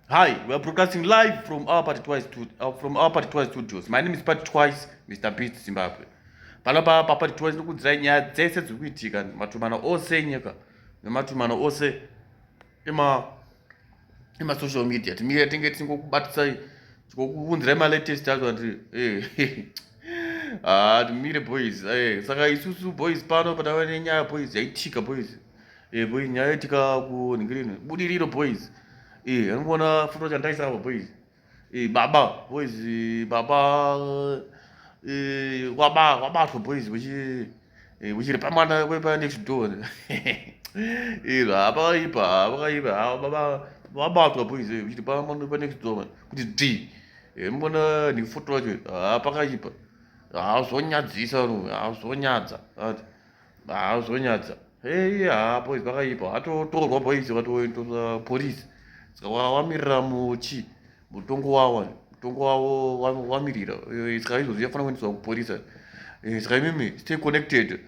Hi, we are broadcasting live from our party twice to, uh, from our party twice studios. My name is Party Twice, Mr. Beat Zimbabwe. Pano pa pa party twice nokudzirai nyaya dzese dziri kuitika matumano ose enyika nematumano ose ema ema social media timire tinge tingokubatisai tikokuvunzirai malatest acho ati eh, haa ah, timire boys eh, saka isusu boys pano patava nenyaya boys yaitika boys eh, boys nyaya yaitika kunhingirini budiriro boys anongoona futo chandaisavo boys Eh, baba boys baba eh, kwaba kwabatwa boys kuchi eh, kuchiri pamwana kwepa next door iro hapakaipa hapakaipa havo baba vabatwa boys kuchiri pamwana kwepa next door kuti d mona nefoto yacho hapakaipa hazvonyadzisa ro hazvonyadza haa zvonyadza hei haa boys vakaipa atotorwa boys vatoendesa police saka wamirira muchi mutongo wawa mutongo wavo wamirira eh, saka izvozvi yafanira kuendeswa kupolisa eh, saka imimi stay connected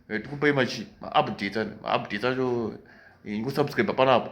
eh, tikupai machi maupdates maupdates acho ingosubscribe panapa